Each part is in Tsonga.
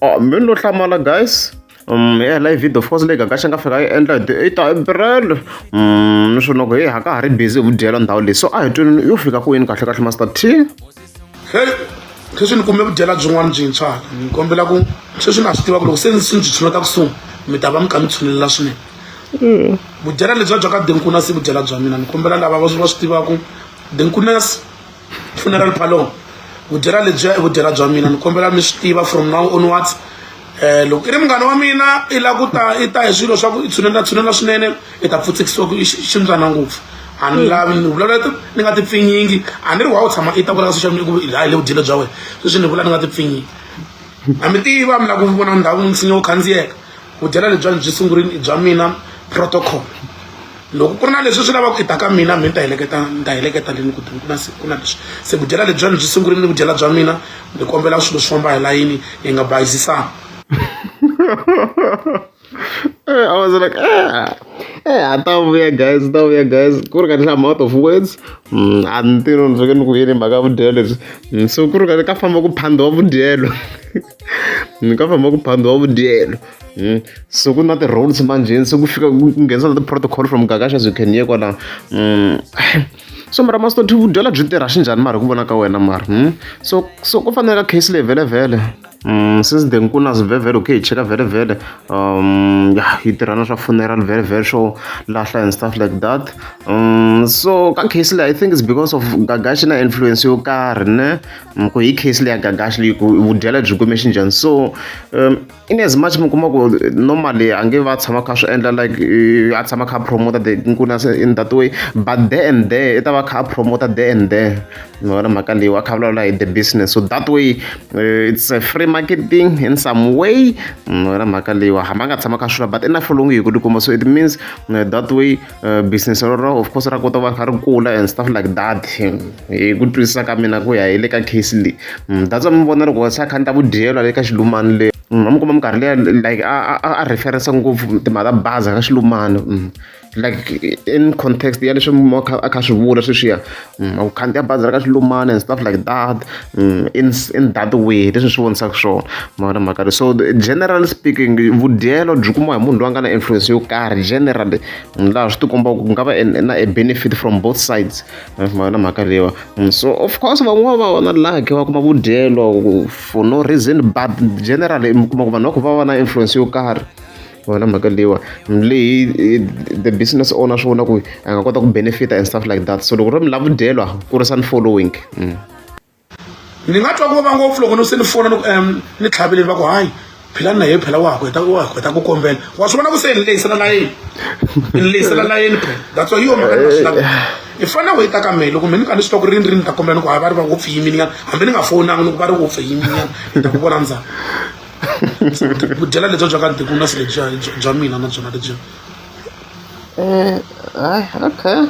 oh, mi lo hlamala guys um ya live video of course leyi gaga xi nga fika yi endla hi ti-eight april um niswona ku hi ha ka ha ri busy hi ku dyela ndhawu leyi so a hi twini yo fika ku yini kahle kahle master t sweswi ni kume vudyela byin'wana byintshwa ni kombela ku sweswi na swi tiva ku loko se ni swi ni byi tshinota kusuhi mi ta va mi kha mi tshunelela swinene mm. vudyela lebyiya bya ka dinkunasi vudyela bya mina ni kombela lava va swi va swi tivaku dinkunasi funeral parlor vudyela lebyiya i vudyela bya mina ni kombela mi swi tiva from now onwards um loko i ri munghana wa mina i la ku ta i ta hi swilo swa ku i tshunela tshunela swinene i ta pfutsekisiwa ku ximbyana ngopfu a ni lavi ni vulavula ni nga tipfinyingi a ni ri wa u tshama i ta vula ka social media ku laha hi le vudyela bya wena sweswi ni vula ni nga tipfinyingi a mi tiva mi lava ku vona ndhawu nsinya wo khandziyeka vudyela lebyiwani byi sungurile i bya mina protocol loko ku ri na leswi swi lavaka ku i ta ka mina mi ni ta heleketa ni ta heleketa leni ku ku na ku na leswi se vudyela lebyiwani byi sungurile ni vudyela bya mina ni kombela swilo swi famba hi layini hi nga bayizisani Eh, I was like, ah, eh, I thought we are guys, I thought we are guys. Ku ri kahle I'm out of words. Mm, a ni tirhi ni fanekele ni ku yini mhaka vudyelo lebyi. Mm, so ku ri kahle ka famba ku phandhiwa vudyelo. ni nga famba ku phambiwa vudyelo hmm. so ku na ti-roads manjheni se ku fika ku nghenisa na ti-protocol from gagaxa as you can ye kwala hmm. so mara masitoti vudyela byi tirha xi njhani mara hi ku vona ka wena mara hmm. so so ku fanela case leyi vhelevhele Mm, since then ku na vhevhele okay hi cheka vhevhele um ya hi tirha na swa funeral vhevhele swo lahla and stuff like that um so ka case leyi i think it's because of gagashi na influence yo karhi ne mi ku hi case leya gagaxi leyi ku vudyela byi kume xinjhani so um, in as much mi kuma ku normally a nge va tshama kha swi endla like a tshama kha promoter the nkuna in that way but there and there i ta va kha promoter there and there mi vona mhaka leyi wa kha vulavula hi the business so that way uh, it's a free marketing in some way mi vona mhaka leyiwa hambi a nga tshama kha swilo but i na folongi hi ku tikuma so it means uh, that way eh, business rero of course ra kota va kha ri kula and stuff like that hi ku twisisa ka mina ku ya hi le ka case leyi mm, that's mi vona loko se a kha ni ta ku dyelwa le ka xilumani le mm, a mi kuma minkarhi leya like a referensa ngopfu timhaka ta baza ka xilumani mm. like in context ya leswi a kha swi vula sweswiya u khandziya bazi ra ka xilumana and stuff like that in in that way leswi swi vonisaka swona mavona mhaka leyi so generally speaking vudyelo byi kumiwa hi munhu loyi a nga na influence yo karhi generally laha swi tikombaka ku nga va na a benefit from both sides mavona mhaka leyiwa so of course van'wana va va na lucky va kuma vudyelo for no reason but generally mi kuma ku vanhu va kha va va na influence yo karhi wena mhaka leyiwa leyi the business owner swi vona ku a nga kota ku benefita and stuff like that so loko ro mi lava dyelwa kurisani following mm. ni nga twa ku va ngopfu loko ni se ni fona loko um ni tlhaveleni va ku hayi philani na ye phela wa heta wa heta ku kombela wa swi vona ku se ni lehisela layeni ni lehisela layeni phela that's why yo mhaka ni nga swi lavi i fanele ku yi ta ka mina loko mina ni ka ni swi twa ku rini rini ni ta kombela ni ku hayi va ri va ngopfu yiminyana hambi ni nga fowunanga ni ku va ri ngopfu yiminyana ni ta ku vona ndzhaku vudyela lebyi bya ka ntikunasi lebyiya bya mina na byona lebyiya eh, okay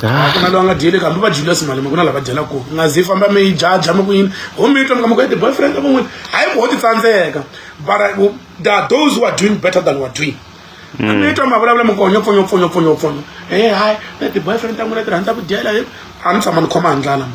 ah, ku na loyi a nga dyeli kambe va dyile simalima ku na lava dyela ku nga zi famba mi yi jaja mi ku yini ho mi twa mi ka mi ku ete boyfriend a van'wini hayi ku ho ti tsandzeka but uh, there are those who are doing better than we're doing Mm. mi twa mavulavula mi konyo pfonyo pfonyo pfonyo pfonyo e hayi na ti-boyfriend ta n'wina ti rhandza ku dyela a ni tshama ni khoma hi ndlala mi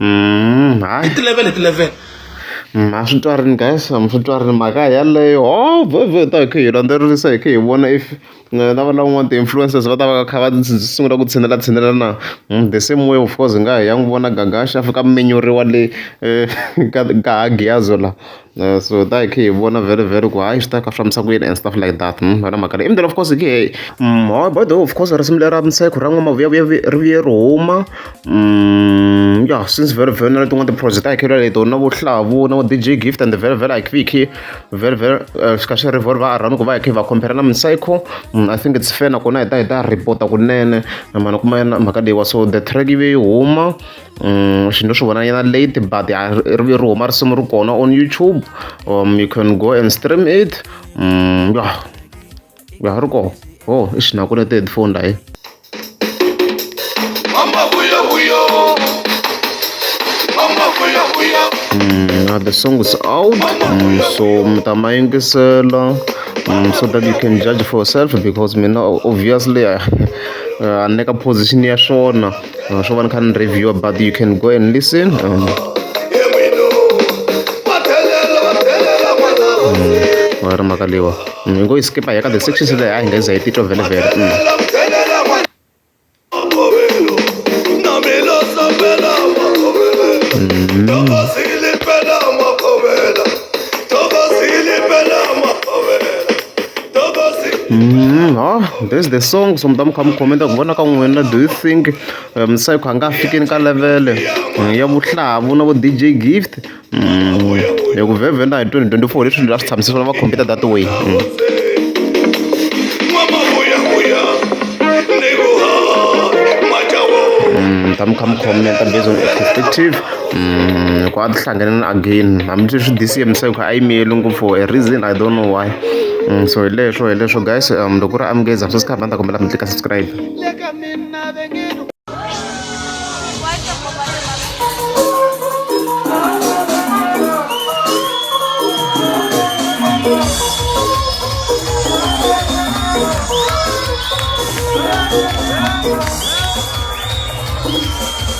Mm, hayi. I ti-level hi ti-level. Mm, a swi twarini guys a swi twarini mhaka yaleyo o vhe vhe hi ta hi kha hi landzelerisa hi kha hi vona if na lava lavan'wana ti-influencers va ta va va kha va ndzi sungula ku tshinela tshinela na Mm, the same way of course hi nga ha ya n'wi vona gagaxa a fika a minyuriwa le eh, ka ka ha giyazo la. Uh, so that hi khe hi vona very very ku hayi swi ta ka swi fambisa ku yini and stuff like that hmm, wena mhaka leyi imdela of course hi khe hmm, hi by the way of course risimu lera mseko ra n'wamavuyavuya ri vuye ri huma hmm, ya since very very na letin'wana tiproject a hi khe laleto na vuhlavu na dj gift and very very like hi khe very very eh, swi kha swi rivori va arhani ku va hi khe va compare na mseko i think it's fair nakona hi ta hi ta reporta kunene mhana kuma mhaka leyiwa so the track yi ve yi huma Mm, xinto swi vona yana late but ri ri huma risimu ri kona on youtube um, you can go and stream it mm, ya ya ri kona o oh, i xinako ne ti-headphone layi Mm, the song is out, mm, so mtamayingisela mm, so that you can judge for yourself because mina obviously I, uh, aneka position ya swona uh, so one can review but you can go and listen um, ri mhaka leyiwa hi ngo yi skipa ya ka the sections leyi a hi nga za yi titwa vhele vhele Mm, huh? there's the song somtam kha mi khomenta ku vona ka n'wina do you think um, sai kha nga fikeni ka levele mm, ya vuhlavu na vo dj gift mm, ya ku vhevhenda hi 2024 leswi ndzi la swi tshamisa swona va khompita that way mm. mm, ta mi kha mi khomenta based on perspective loko a ti hlanganile again hambi swi swi disiye misava kha a yi miyeli ngopfu for a reason i don't know why Mm, so hi leswo hi leswo guys um loko ku ri amukeza sweswi kha banda kombela mi tlika subscribe